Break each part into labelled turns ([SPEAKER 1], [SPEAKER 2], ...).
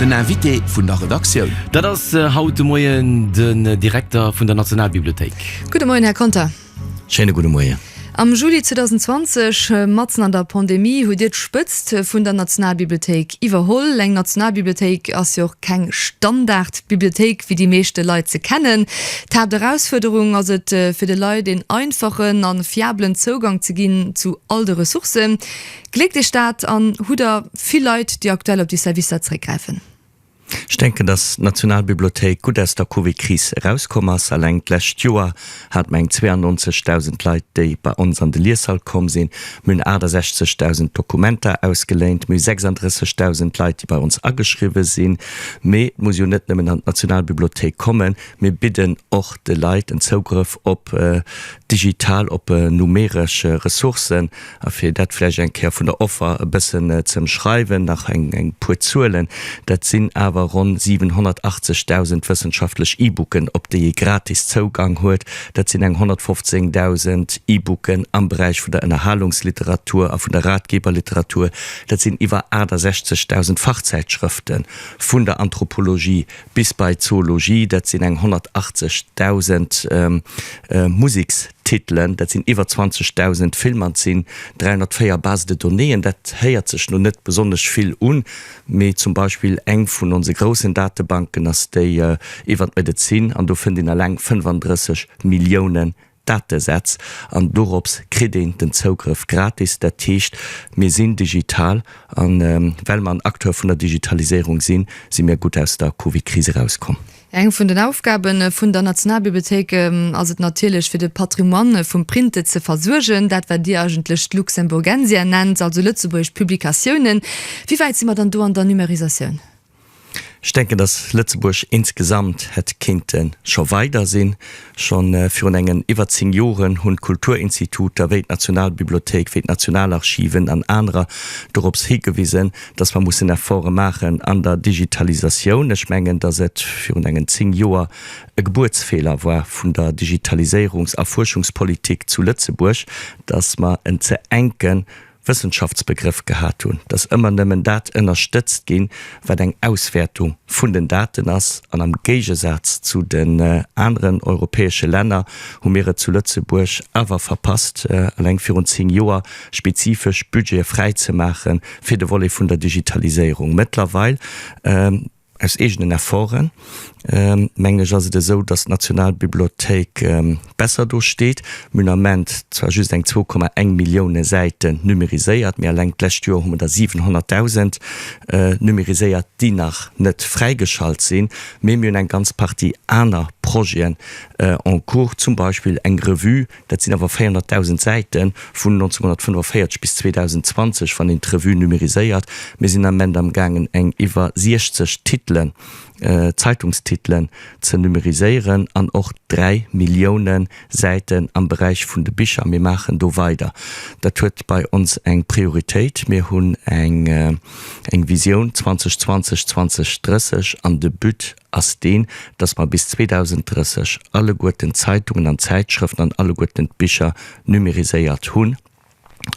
[SPEAKER 1] Den Invité vun der Redaktioun. Dat ass haut
[SPEAKER 2] de Moien den Direkter vun der Nationalbibliothéik. Gudde Moien, Här
[SPEAKER 3] Conter. Schéine gudde Moie.
[SPEAKER 2] Am Juli
[SPEAKER 3] 2020, matzen an der Pandemie, hutt Dir d'Spëtzt vun der Nationalbibliothéik iwwerholl. Eng Nationalbibliothéik ass jo och keng Standardbibliothéik, wéi déi meeschte Leit se kennen. D'Haapterausfuerderung ass et, fir de Leit een einfachen a fiabelen Zougang ze ginn zu all de Ressourcen. Gléckt Iech dat an hutt Der vill Leit, déi aktuell op déi Servicer zeréckgräifen? Ech denken,
[SPEAKER 4] dass d'Nationalbibliothéik gutt aus der Covid-Kris erauskomm ass. Eleng d'lescht Joer hate mer eng 92.000 Leit, déi bei ons an de Lieshall komm sinn. Mir hunn 68.000 Dokumenter ausgeléint. Mir hu 36.000 Leit, déi bei ons ageschriwwe sinn. Mee et muss jo net nëmmen an d'Nationalbibliothéik kommen. Mir bidden och de Leit en Zougrëff op digital, op numeresch Ressourcen. A fir dat vläicht eng Kéier vun der Offer e bëssen ze ëmschreiwen, nach eng puer Zuelen, Dat sinn awer ronn 780.000 wëssenschaftlech E-Booken, op déi ee gratis Zougang huet. Dat sinn eng 115.000 E-Booken am Beräich vun der Ënnerhalungsliteratur a vun der Ratgeberliteratur. Dat sinn iwwer 68.000 Fachzäitschrëfte vun der Anthropologie, bis bei Zoologie, dat sinn eng 180.000 Musekstitelen, dat sinn iwwer 20.000 Filmer, et sinn 304 Base de donnéeën. Dat héiert sech lo net besonnesch vill un, mee zum Beispill eng vun onse groussen Datebanken ass déi iwwer d'Medezin an do fënnt een eleng 35 Milliounen Datesätz an dorops kritt een den Zougrëff gratis. Dat heescht, mir sinn digital a well mer en Acteur vun der Digitaliséierung sinn, si mir gutt aus der Covid-Kris erauskomm. Eng vun den Aufgabe
[SPEAKER 3] vun der Nationalbibliothéik ass et natierlech, fir de Patrimoine vum Printe ze versuergen, dat wat Dir eigentlech d'Luxemburgensia nennt, also lëtzebuergesch Publikatiounen. Wéi wäit si mer dann do an der Numérisatioun? Ech
[SPEAKER 4] denken, dass Lëtzebuerg insgesamt hätt kéinte scho weider sinn. Scho virun engen iwwer zéng Joren hunn d'Kulturinstituter wéi d'Nationalbibliothéik, wéi d'Nationalarchiven an anerer dorops higewisen, dass mer mussen Efforte maachen an der Digitalisatioun. Ech mengen, dass et virun engen zéng Joer e Gebuertsfeeler war vun der Digitaliséierungs a Fuerschungspolitik zu Lëtzebuerg, dass mer en ze enke Wëssenschaftsbegrëff gehat hunn, dass ëmmer nëmmen dat ënnerstëtzt ginn, wat eng Auswäertung vun den Daten ass. An am Géigesaz zu den aneren europäesche Länner hu mir et zu Lëtzebuerg awer verpasst, eleng virun zéng Joer spezifesch Budgete fräizemaache fir de Volet vun der Digitaliséierung. Mëttlerweil, Aus eegenen Efforten, mengen ech, ass et esou, dass d'Nationalbibliothéik besser do steet. Mir hunn am Ament zwar just eng 2,1 Millioune Säiten numeriséiert, mee eleng d'lescht Joer hu mer der 700.000 numeriséiert, déi nach net fräigeschalt sinn. Mee mir hunn eng ganz Partie aner Projeten en cours, zum Beispill eng Revue, Dat sinn awer 400.000 Säiten, vun 1945 bis 2020, wann een d'Revue numériséiert. Mir sinn am Ment am gaangen eng iwwer 60 Titelen, Zeitungstitelen, ze numériséieren an och dräi Millioune Säiten am Beräich vun de Bicher. Mir maachen do weider. Dat huet bei ons eng Prioritéit. Mir hunn eng Visioun 2020, 2030 an de But, ass deen, dass mer bis 2030 alleguerten d'Zeitungen an d'Zäitschrëften an alleguerten d'Bicher numériséiert hunn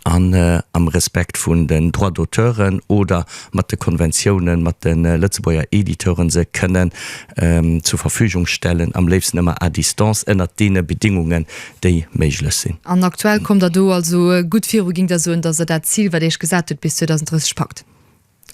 [SPEAKER 4] an am Respekt vun den Droits d'auteuren oder mat de Konventiounen mat de Lëtzebuerger Editeuren se kënnen zur Verfügung stellen, am léifsten ëmmer à distance, ënnert deene Bedingungen, déi méiglech sinn. An aktuell kommt Der do
[SPEAKER 3] also gutt viru, géing Der soen, dass Der dat Zil, wat Dir Iech gesat hutt, bis 2030 packt?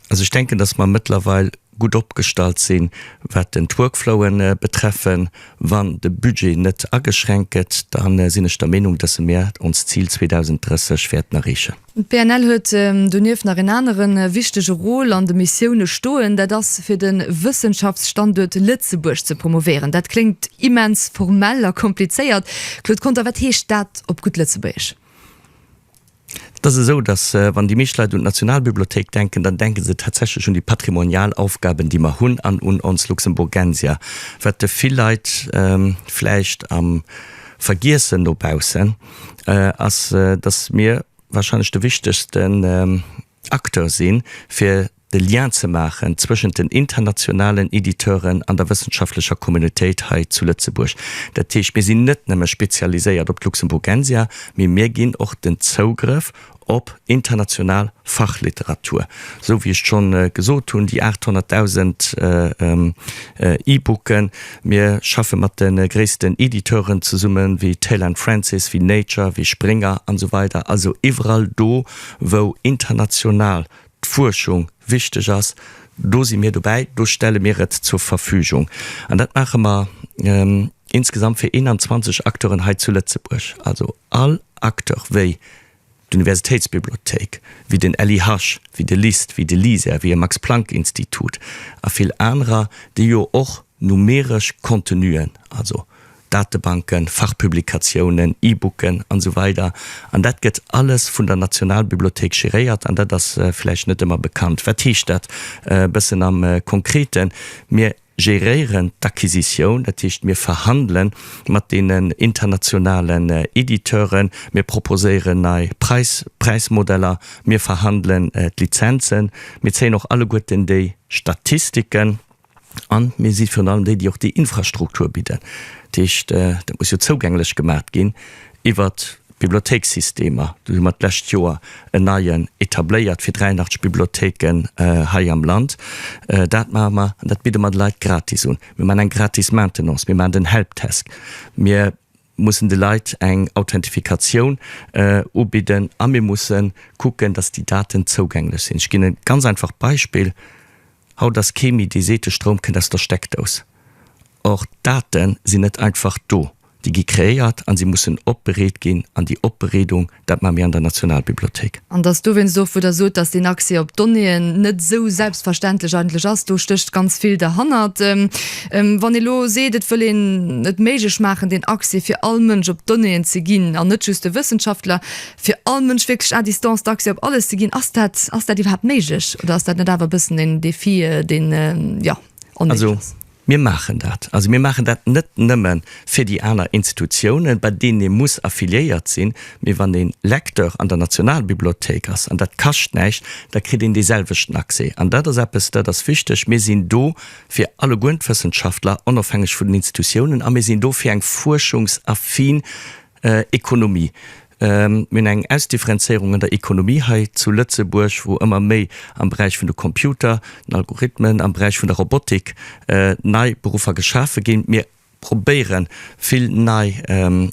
[SPEAKER 3] Also ech denken,
[SPEAKER 4] dass mer mëttlerweil gutt opgestallt sinn, wat den d'Workflowen betreffen. Wann de Budget net ageschränkt gëtt, da sinn ech der Meenung, dass mer ons Zil 2030 wäerten erreechen. D'PNL huet
[SPEAKER 3] donieft nach en anere wichtege Rôle an de Missioune stoen, dat ass fir de Wëssenschaftsstanduert Lëtzebuerg ze promovéieren. Dat kléngt immens formell a komplizéiert. Claude Conter, wat heescht dat op gutt Lëtzebuergesch?
[SPEAKER 4] Et ass esou, dass, wann déi meescht Leit un d'Nationalbibliothéik denken, dann denke se tatsächlech un déi patrimonial Aufgaben, déi mer hunn, an un ons Luxemburgensia, wat de vill Leit vläicht am Vergiessen nobaussen ass, dass mir warscheinlech de wichtegsten, Acteur sinn, fir de Lien ze maachen zwëschent den internationalen Editeuren an der wëssenschaftlecher Communautéit hei zu Lëtzebuerg. Dat heescht, mir sinn net nëmme spezialiséiert op d'Luxemburgensia, mee mir ginn och den Zougrëff op international Fachliteratur. Esou wéi ech schonn gesot hunn, déi 800.000 E-Booken, mir schaffe mat de gréissten Editeuren zesummen, wéi Taylor & Francis, wéi Nature, wéi Springer an esou weider, also iwwerall do, wou international d'Fuerschung wichteg ass, do si mir dobäi, do stelle mir et zur Verfügung. An dat maache mer insgesamt fir 21 Acteuren hei zu Lëtzebuerg, also all Acteur wéi d'Universitéitsbibliothéik, wéi den LIH, wéi de LIST, wéi de LISER, wéi e Max-Planck-Institut a vill anerer, déi jo och numeresch Contenuen, also Datebanken, Fachpublikatiounen, E-Booken an esou weider An dat gëtt alles vun der Nationalbibliothéik geréiert an dat ass vläicht net ëmmer bekannt. Wat heescht dat e bëssen am Konkreten? Mir geréieren d'Acquisitioun, dat heescht mir verhandele mat deenen internationalen Editeuren, mir proposéieren nei Preis, Präismodeller, mir verhandelen d'Lizenzen, mir zéien och alleguerten déi Statistiken, an mir si virun allem déi, déi och déi Infrastruktur bidden. Dat heescht, dat muss jo zougänglech gemaacht ginn iwwert d'Bibliothéikssystemer. Do hu mer d'lescht Joer en neien etabléiert fir 83 Bibliothéiken hei am Land. Dat maache mer an dat bidde mer de Leit gratis un. Mir maachen eng gratis Maintenance, mir maachen den Helpdesk, mir, mussen de Leit eng Authentifikatioun ubidden a mir musse kucken, dass déi Daten zougänglech sinn. Ech ginn e ganz einfacht Beispill, Haut ass kee méi, dee seet, de Stroum kënnt aus der Steckdous. Or, d'Date sinn net einfach do. Déi gi kreéiert an si mussen opbereet ginn an déi Opbereedung Dat maache mir an der Nationalbibliothék. An dat ass dowéinst och,
[SPEAKER 3] wou Der sot, datt deen Accès op d'Donnéeën net esou selbstverständlech eigentlech ass. Do stécht ganz vill derhannert. Wann ee elo seet, et wëll een et méiglech maachen, deen Accès fir all Mënsch op d'Donnéeën ze ginn, an net just de Wëssenschaftler, fir all Mënsch wierklech à distance d'Accès op alles ze ginn, ass dat, ass dat iwwerhaapt méiglech oder ass dat net awer e bëssen en Défi, deen, jo, onméiglech ass?
[SPEAKER 4] Mir maachen dat. Also mir maachen dat net nëmme fir déi aner Institutiounen, bei deenen ee muss affiliéiert sinn, mee wann ee Lecteur an der Nationalbibliothéik ass, an dat kascht näischt, da kritt een dee selwechten Accès. An dat ass eppes, dat ass wichteg. Mir sinn do fir allegueren d'Wëssenschaftler, onofhängeg vun den Institutiounen, a mir sinn do fir eng fuerschungsaffin Ekonomie, Mir hunn eng Ausdifferenzéierung an der Ekonomie hei zu Lëtzebuerg, wou ëmmer méi am Beräich vun de Computer, den Algorithmen, am Beräich vun der Robotik nei Beruffer geschafe ginn. Mir probéiere vill nei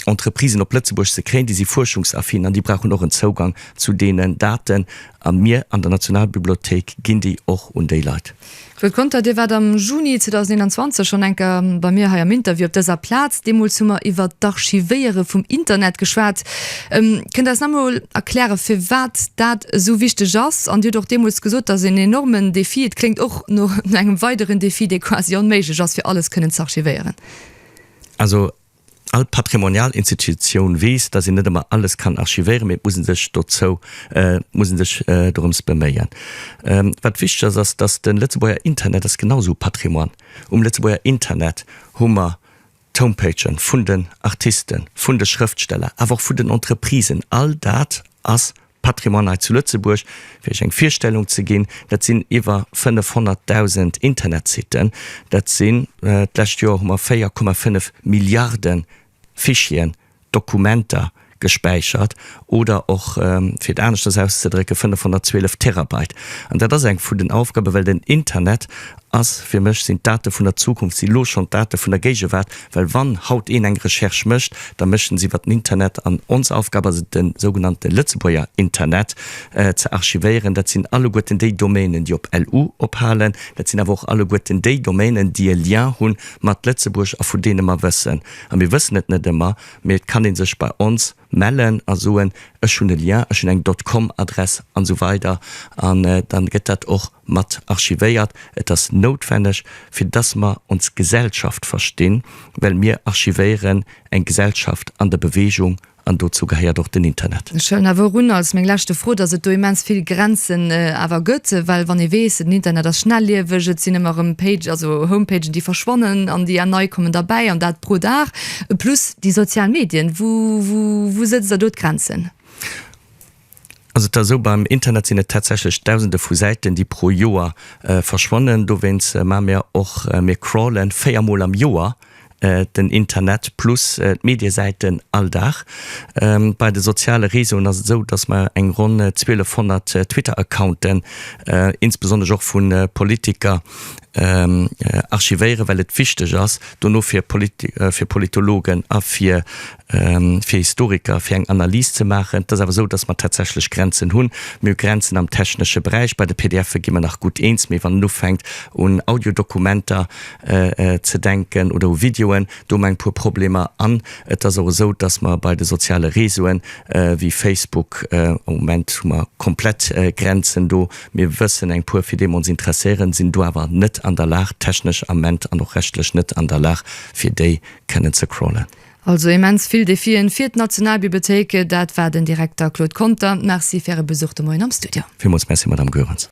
[SPEAKER 4] Entreprisen op Lëtzebuerg ze kréien, déi si fuerschungsaffin an déi brauchen och en Zougang zu deenen Daten a mir an der Nationalbibliothéik ginn déi och un déi Leit. Claude Conter, Dir waart
[SPEAKER 3] am Juni 2021 schonn eng Kéier bei mir hei am Interview op dëser Plaz. Deemools hu mer iwwert d'Archivéiere vum Internet geschwat. Kënnt eis nach emol erkläre firwat dat esou wichteg ass? An Dir hutt och deemools gesot, dass en enormen Defi, et kléngt och no engem weideren Defi, dee quasi onméiglech ass, fir alles kënnen z'archivéieren. Also
[SPEAKER 4] All patrimonial Institutioun weess, dass een net ëmmer alles kann archivéieren, mee et muss ee sech dozou, muss ee sech dorëms beméien. Wat wichteg ass, ass, dass de Lëtzebuerger Internet ass genau esou Patrimoine. Um Lëtzebuerger Internet hu mer d'Homepagë vun den Artisten, vun de Schrëftsteller, awer och vun den Entreprisen. All dat ass Patrimoine hei zu Lëtzebuerg, fir Iech eng Virstellung ze ginn, dat sinn iwwer 500.000 Internetsitten, dat sinn, d'lescht Joer hu mer 4,5 Milliarde Fichieren, Dokumenter, gespäichert oder och, fir et aneschters auszedrécken, 512 Terabyte. An dat ass eng vun den Aufgaben, well den Internet ass, fir mech sinn d'Date vun der Zukunft si lo schonn d'Date vun der Géigewaart, well wann haut een eng Recherche mécht, da mécht en se iwwer den Internet an ons Aufgab ass et de sougenannte Lëtzebuerger Internet ze archivéieren. Dat sinn alleguerten déi Domainen, déi op lu ophalen, dat sinn awer och alleguerten déi Domainen, déi e Lien hu mat Lëtzebuerg a vun deene mer wëssen, a mir wëssen et net ëmmer, mee et kann ee sech bei ons mellen a soen, ech hunn e Lien, ech hunn eng dot com Adress an esou weider an dann gëtt dat och. mat archivéiert, et ass noutwenneg fir dass mer ons Gesellschaft verstinn, well mir archivéieren eng Gesellschaft an der Bewegung an dozou gehéiert och den Internet. Ech hëllen awer erun als
[SPEAKER 3] meng leschte Fro, dass et do immens vill Grenzen awer gëtt, well wann ee weess, den Internet ass schnellieweg, et sinn ëmmer erëm Page, also Homepagen déi verschwannen an déi nei kommen derbäi an dat pro Dag, plus déi sozial Medien. Wou sëtzt Der do d'Grenzen? Ass
[SPEAKER 4] et da esou, beim Internet sinn et tatsächlech Dausende vu Säiten, déi pro Joer verschwannen. Dowéinst maache mir och, mir crawlen véier Mol am Joer den Internet plus d'Mediesäiten all Dag. Bei de soziale Réseauen ass et esou, dass mer eng ronn 1200 Twitter-Accounten, insbesonnesch och vu Politiker, archivéieren, well et wichteg ass dono fir Politologen a fir fir Historiker, fir eng Analys ze maachen. Et ass awer esou, datt mer tatsächlech Grenzen hunn. Mir hu Grenzen am technesche Beräich. Bei de PDFe gi mer nach gutt eens, mee wann en ufänkt un Audiodokumenter ze denken oder u Videoen, do hu mer eng puer Problemer. An et ass och esou, datt mer bei de soziale Reseauen, wéi Facebook, am Moment hu mer komplett Grenzen do. Mir wëssen, eng puer fir déi mer ons interesséieren, sinn do awer net an der Lag technesch am Ment an och rechtlech net an der Lag, fir déi kënnen ze crawlen. Also immens vill
[SPEAKER 3] Defien fir d'Nationalbibliothéik, dat war
[SPEAKER 4] den
[SPEAKER 3] Direkter Claude Conter. Merci fir Äre Besuch de
[SPEAKER 4] Moien
[SPEAKER 3] am Studio. Villmools Merci, Madamm Goerens.